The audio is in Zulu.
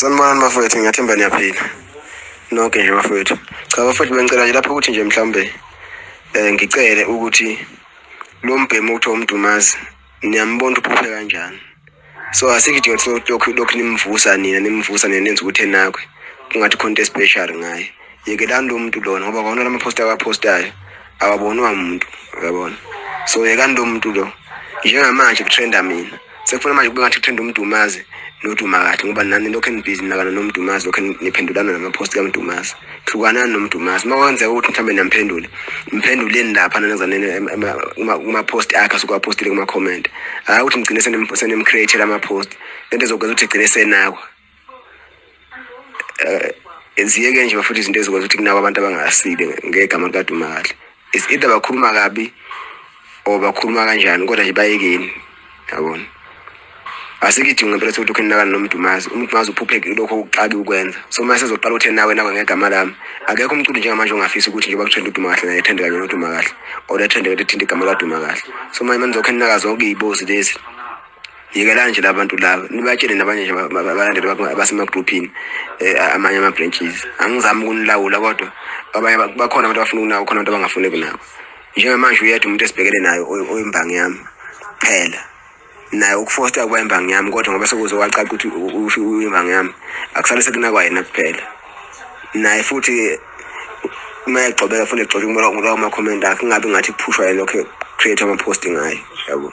Sanibonani bafowethu ngiyathemba niyaphila. Noke nje bafowethu. Cha bafowethu bengicela nje lapho ukuthi nje mhlambe eh ngicele ukuthi lo mbhemu okuthiwa umdumazi niyambona ukuthi uphuphe kanjani. So asikidinga ukuthi lokhu lokhu nimvusa nina nimvusa nina nenza ukuthi enakwe. Kungathi khona into especial ngaye. Yekelani lo muntu lona ngoba kona lama poster abapostayo awabonwa umuntu uyabona. So yekani lo muntu lo njengamanje kutrenda mina. sekufuna manje kube ngathi kuthanda umdumazi noduma kahle ngoba nani lokhu enibhizi nakana nomdumazi lokhu niphendulana namaphosti kamdumazi hlukanani nomdumazi uma kwenzeka ukuthi mhlawumbe niyamphendule mphenduleni lapha nanezanene kumaphosti akhe asuke aphostile kuma-comment hhayi ukuthi nigcine senimcreatela amaphosti le nto ezokwenza ukuthi igcine senakwa um ziyeke nje bafuthi izinto ezikwazi ukuthi kunabo abantu abangasile ngegama likadumali is either bakhuluma kabi or bakhuluma kanjani kodwa nje bayekeni yabona asikidingi ngempela sokuthi ukhe nakani nomdumazi umdumazi uphuphe lokho uqabi ukwenza so uma sezoqala uthe nawe nawe ngegama lami akekho umculi njengamanje ongafisa ukuthi njengoba kuthanda uduma kahle naye ethende kanye noduma kahle or ethende kade ethinte igama laduma kahle so manje manizokhe ninaka zonke iy'bozi lezi yekelani nje labantu laba nibatshele nabanye nje balandele abasemagruphini eh, amanye ama-branches angizami ukunilawula kodwa abanye bakhona abantu abafuna ukunako khona abantu abangafuni kunako njengamanje uyedwa umuntu esibhekele nayo oyimbangi yami phela naye ukufosta kuba imbangi yami kodwa ngoba sekuze wacaca ukuthi usho uyimbangi yami akusale sekunakwa yena kuphela naye futhi uma egxobeka funa egxobe kumela ngulawo makhomenti akhe kungabi ngathi kuphushwa yena lokho create ama-post ngayo yabo